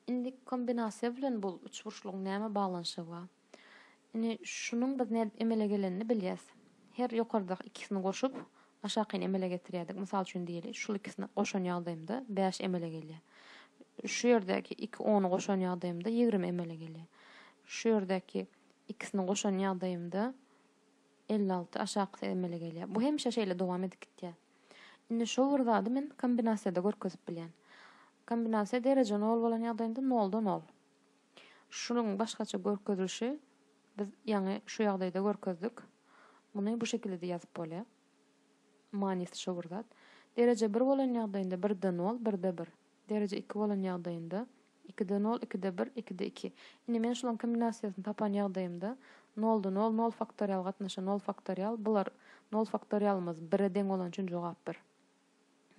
Indiki kombinasiýa bilen bu üçburçlugyň näme baglanyşygy bar? Indi şunuň biz nädip emele gelenini bilýäs. Her ýokardaky ikisini goşup, aşakyny emele getirýärdik. Mysal üçin diýeli, şul ikisini goşan ýagdaýymda bäş emele gelýär. Şu ýerdäki iki ony goşan ýagdaýymda ýigrimi emele gelýär. Şu ýerdäki ikisini goşan ýagdaýymda. elli alty aşakysy emele gelýär. Bu hemişe şeýle dowam edip gitýär. Indi şo bir zady men kombinasiýada görkezip bilýän. Kombinasiýa dereje nol bolan ýagdaýynda nolda nol. Şunuň başgaça görkezilişi biz ýaňy şu ýagdaýda görkezdik. Muny bu şekilde-de ýazyp bolýar. Manysy şo bir zat. Dereje bir bolan ýagdaýynda birde nol, birde bir. Dereje iki bolan ýagdaýynda Ikide nol, ikide bir, ikide iki. Indi men şularyň kombinasiýasyny tapan ýagdaýymda, nolda nol, nol faktorial gatnaşa nol faktorial, bular nol faktorialymyz bire deň bolany üçin jogap bir.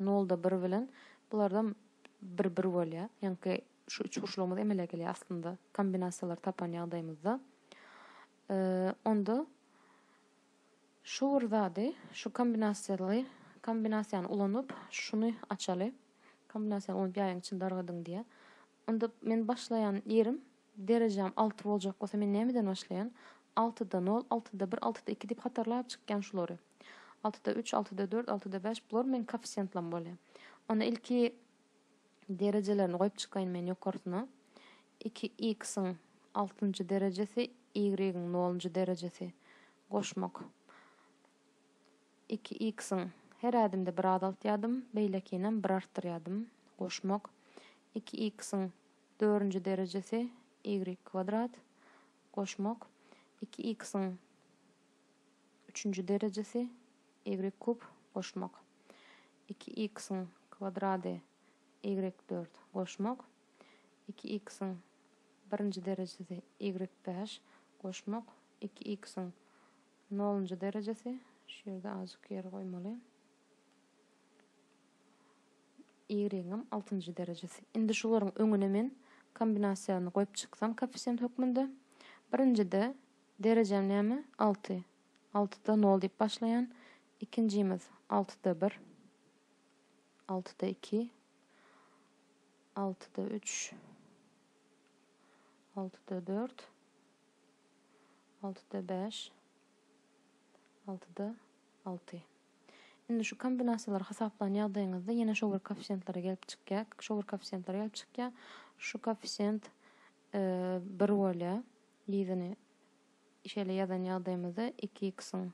Nolda bir bilen bulardan bir bir bolýar. Ýaňky şu üçburçlygymyz emele gelýär aslynda kombinasiýalary tapan ýagdaýymyzda. Onda Şu bir zady, şu kombinasiýaly kombinasiýany ulanyp, şuny açaly. Kombinasiýany ulanyp ýaýyň içini dargadyň diýýär. Onda men başlaýan ýerim, derejäm alty boljak bolsa men nämeden başlaýan? Altyda nol, altyda bir, altyda iki diýip hatarlap çykýan şulary. Altyda üç, altyda dört, altyda bäş, bular meniň koeffisiýentlam bolýar. Onda ilki Derejelerini goýup çykaýyn men ýokarsyna. Iki x-iň altynjy derejesi, y-iň nolunjy derejesi. Goşmak. Iki x-iň her ädimde bir azaltýardym, beýlekinem bir artdyrýardym. Goşmak. Iki x-iň dörünji derejesi, y kwadrat. Goşmak. Iki x-iň üçünji derejesi, y kub. Goşmak. Iki iksiň kwadrady ýigrek dört goşmak. Iki iksiň birinji derejesi ýigrek bäş goşmak. Iki iksiň nolunjy derejesi, şu ýerde azjyk ýer goýmaly, ýigregiňem altynjy derejesi. Indi şularyň öňüne men kombinasiýany goýup çyksam koeffisient hökmünde. Birinjide derejäm näme? Alty. Altyda nol diýip başlaýan ikinjimiz altyda bir, altyda iki, altyda üç, altyda dört, altyda bäş, altyda alty. Indi şu kombinasiýalary hasaplan ýagdaýyňyzda ýene şo bir koeffisiýentlere gelip çykýar. Şo bir koeffisiýentlere gelip çykýar. Şu koeffisiýent e, bir bolýar. Ýedini Şeýle ýazan ýagdaýymyzda iki x-iň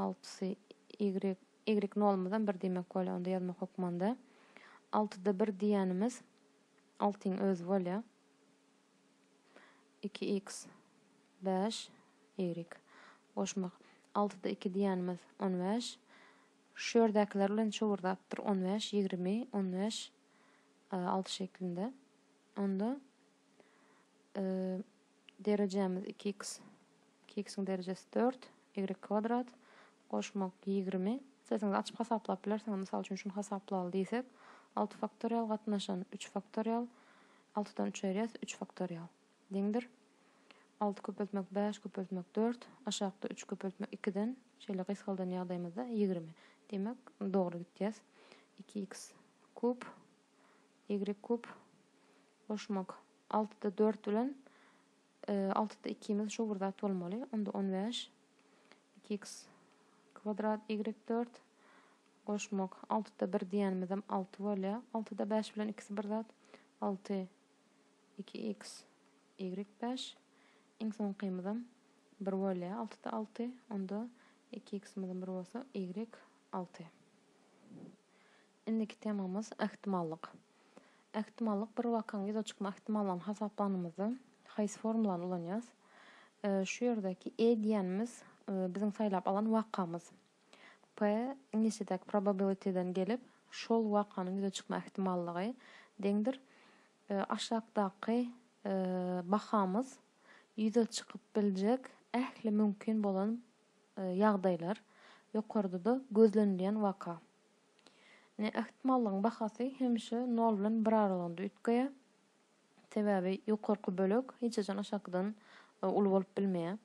altysy y, y nolumyzam bir diýmek bolýar onda ýazmak hökmanda. Altyda bir diýýänimiz altyň özi bolýar. Iki x, bäş y. Goşmak. Altyda iki diýýänimiz on bäş. Şu ýerdäkiler bilen çowurdapdyr. On bäş, ýigrimi, on bäş, alty şeklinde. Onda Derejämiz iki x. Iki x-iň derejesi dört. Ýigrek kwadrat. Goşmak ýigrimi. Sesiňizi açyp hasaplap bilersiňiz. Mysal üçin şuny hasaplaly diýsek. Alty faktorial gatnaşan üç faktorial. Altydan üç aýyrýas. Üç faktorial. Deňdir. Alty köpeltmek bäş köpeltmek dört. Aşakda üç köpeltmek ikiden. Şeýle gysgaldan ýagdaýymyzda ýigrimi. Diýmek dogry gitýäs. Iki x kub. Ýigrek kub. Goşmak. Altyda dört bilen altyda ikimiz şu bir zat bolmaly. Onda on bäş. Iki iks kwadrat ýigrik dört. Goşmak. Altyda bir diýenimizem alty bolýar. Altyda bäş bilen ikisi bir zat. Alty. Iki iks ýigrik bäş. Iň soňkymyzam bir bolýar. Altyda alty. Onda iki iksimiz bir bolsa ýigrik alty. Indiki temamyz, ähtimallyk. Ähtimallyk bir wakaň ýüze çykma ähtimallygyny hasaplanymyzda haýsy formulany ulanýas? Şu ýerdäki E diýenimiz biziň saýlap alan wakamyz. P iňlisçedäki probability'den gelip, şol wakanyň ýüze çykma ähtimallygy deňdir aşakdaky bahamyz ýüze çykyp biljek ähli mümkin bolan ýagdaýlar, ýokarda-da gözlenilýän waka. Ne Ähtmallygyň bahasy hemişe nol bilen bir aralygynda üýtgeýär. Sebäbi ýokarky bölek hiç haçan aşakydan uly bolup bilmeýär.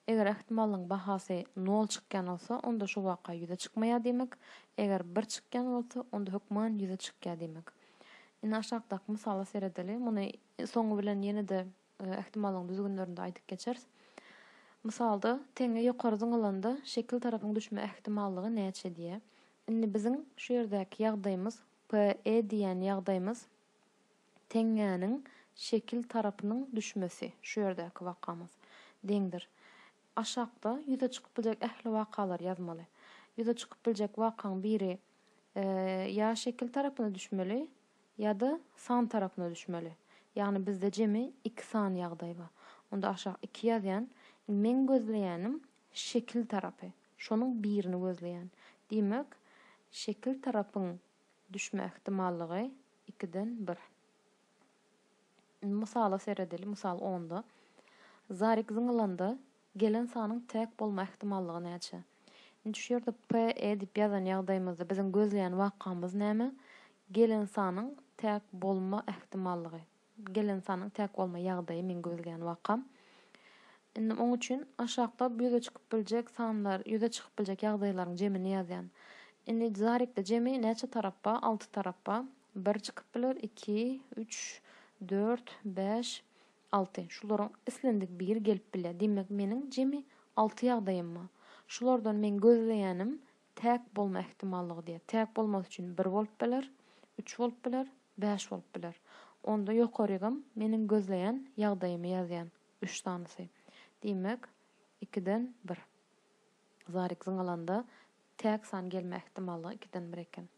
Eger Ähtmallygyň bahasy nol çykýan bolsa, onda şu waka ýüze çykmaýar diýmek. Eger bir çykýan bolsa, onda hökman ýüze çykýar diýmek. Indi aşakdaky mysala seredeli. Muny soňy bilen ýene-de. Ähtimallygyň düzgünlerini-de aýdyp geçeris. Mysalda, teňňe ýokary zyňylanda şekil tarapyň düşme ähtimallygy näçe diýýär. Indi biziň şu ýerdäki ýagdaýymyz, PE diýýän ýagdaýymyz teňňäniň şekil tarapynyň düşmesi, şu ýerdäki wakamyz, deňdir. Aşakda ýüze çykyp biljek ähli wakalary ýazmaly. Ýüze çykyp biljek wakaň biri ýa şekil tarapyna düşmeli, Ýa-da san tarapyna düşmeli. Ýagny bizde jemi iki san ýagdaý bar. Onda aşak iki ýazýan. Indi meň gözleýänim şekil tarapy. Şonuň birini gözleýän. Diýmek, şekil tarapyň düşme ähtimallygy ikiden bir. Mysala seredeli, mysal onda. Zarik zyňylanda. Gelen sanyň tag bolma ähtimallygy näçe? Indi şu ýerde PE diýip ýazan ýagdaýymyzda biziň gözleýän wakamyz näme? Gelen sanyň tag bolma ähtimallygy. Gelen sanyň tag bolma ýagdaýy meň gözleýän wakam. Indi oň üçin aşakda ýüze çykyp biljek sanlar, ýüze çykyp biljek ýagdaýlaryň jemini ýazýan. Indi zarikde jemi näçe tarap bar? Alty tarap bar. Bir çykyp biler, iki, üç, dört, bäş, Alty. Şularyň islendik biri gelip bilýär. Diýmek, meniň jemi alty ýagdaýym bar. Şulardan meň gözleýänim täk bolma ähtimallygy diýýär. Täk bolmasy üçin bir bolup biler, üç bolup biler, bäş bolup biler. Onda ýokarygam meniň gözleýän ýagdaýymy ýazýan, üç sanysy. Diýmek, ikiden bir. Zarik zyňalanda. Täk san gelme ähtimallygy ikiden bir eken.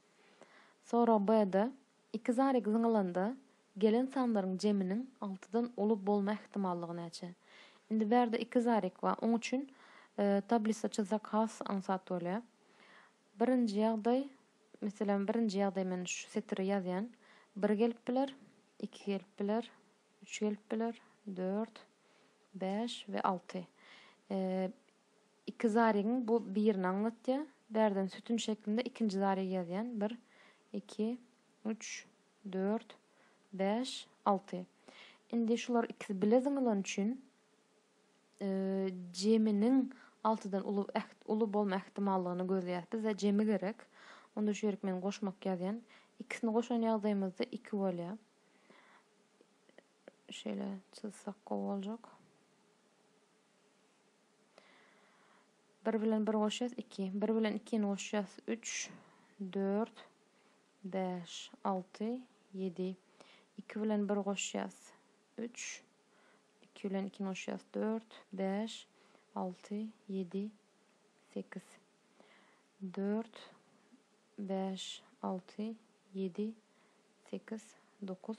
Sorag B-de, iki zarýag zyňylanda, gelen sanlaryň jeminiň altydan uly bolma ähtimallygy näçe? Indi bärde iki zarýag bar, oň üçin tablisa çyzsak has aňsat bolýar. Birinji ýagdaý, meselem, birinji ýagdaý men şu setiri ýazýan. Bir gelip biler, iki gelip biler, üç gelip biler, dört, bäş we alty. Iki zarygyň bu birini aňlatýar. Bärden sütün şeklinde ikinji zarygy ýazýan. Bir, iki, üç, dört, bäş, alty. Indi şular ikisi bile zyňylan üçin jeminiň altydan uly uly bolma ähtimallygyny gözleýäs. Bize jemi gerek. Onda şu ýerik men goşmak ýazýan. Ikisini goşan ýagdaýymyzda iki bolýar. Şeýle çyzsak gowy boljak. Bir bilen bir goşýas, iki. Bir bilen ikini goşýas, üç, dört, bäş, alty, ýedi. Iki bilen bir goşýas, üç. Iki bilen ikini goşýas, dört, bäş, alty, ýedi, sekiz. Dört, bäş, alty, ýedi, sekiz, dokuz.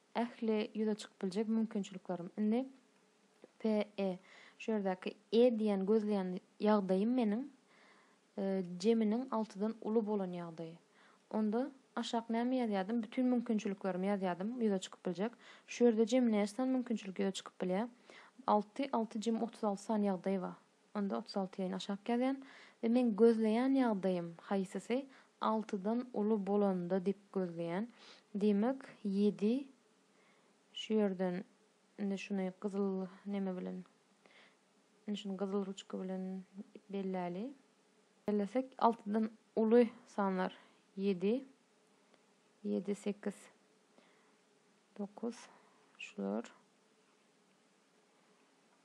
Ähli ýüze çykyp biljek mümkinçiliklerim. Indi PE. Şu ýerdäki E diýen gözleýän ýagdaýym meniň Jeminiň altydan uly bolan ýagdaýy. Onda aşak näme ýazýardym? Bütin mümkinçiliklerimi ýazýardym, ýüze çykyp biljek. Şu ýerde jem näçe sany mümkinçilik ýüze çykyp bilýär? Alty, alty jem otuz alty sany ýagdaý bar. Onda otuz alty ýaýyn aşak ýazýan we meň gözleýän ýagdaýym haýsysy altydan uly bolanda diýip gözleýän. Diýmek ýedi şu ýerden indi şuny gyzyl neme bilen indi şuny gyzyl ruçka bilen belläli. Bellesek altydan uly sanlar ýedi ýedi sekiz dokuz şular.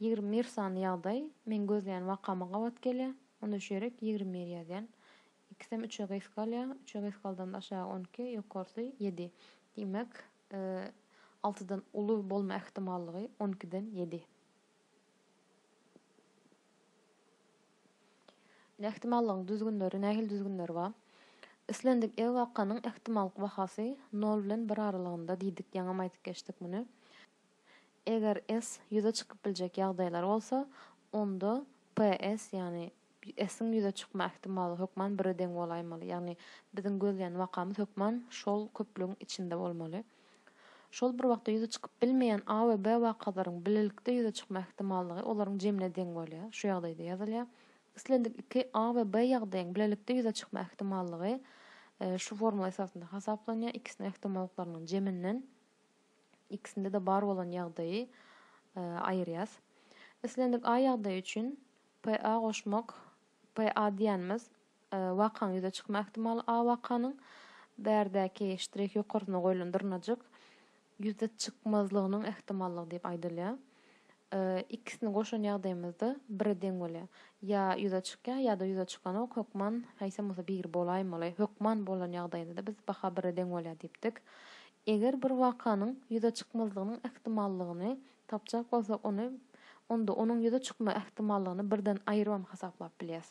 Ýigrimi bir sanly ýagdaý, meň gözleýän wakama gabat gelýär. Onda şu ýerek ýigrimi bir ýazýan. Ikisem üçe gysga galýar. Üçe gysgaldanda aşagy on iki, ýokarsy ýedi. Diýmek, y altydan uly bolma ähtimallygy on ikiden ýedi. Indi ähtimallygyň düzgünleri, nähili düzgünleri bar? Islendik e wakanyň ähtimallyk bahasy nol bilen bir aralygynda diýdik, ýaňam aýdyp geçdik muny. Eger S ýüze çykyp biljek ýagdaýlar bolsa, onda PS, ýagny S-iň ýüze çykma ähtimaly hökman bire deň bolaýmaly. Ýagny biziň gözleýän wakamyz hökman şol köplügiň içinde bolmaly. Şol bir wagtda ýüze çykyp bilmeýän A we B wakalaryň bilelikde ýüze çykma ähtimallygy olaryň jemine deň bolýar. Şu ýagdaýda ýazylýar. Islendik iki A we B ýagdaýyň bilelikde ýüze çykma ähtimallygy şu formula esasynda hasaplanýar, ikisiniň ähtimallyklarynyň jeminden. ikisinde-de bar bolan ýagdaýy aýyrýas. Islendik A ýagdaýy üçin PA goşmak, PA diýýänimiz wakaň ýüze çykma ähtimaly A wakanyň, bärdäki ştrih ýokarsyna goýlan dyrnajyk ýüze çykmazlygynyň ähtimallygy diýip aýdylýar. Ikisini goşan ýagdaýymyzda bire deň bolýar. Ýa ýüze çykýar, ýa-da ýüze çykanok, hökman haýsam bolsa biri bolaýmaly. Hökman bolan ýagdaýynda-da biz baha bire deň bolýar diýipdik. Eger bir wakanyň ýüze çykmazlygynyň ähtimallygyny tapjak bolsak, ony onda onuň ýüze çykma ähtimallygyny birden aýrybam hasaplap bilýäs.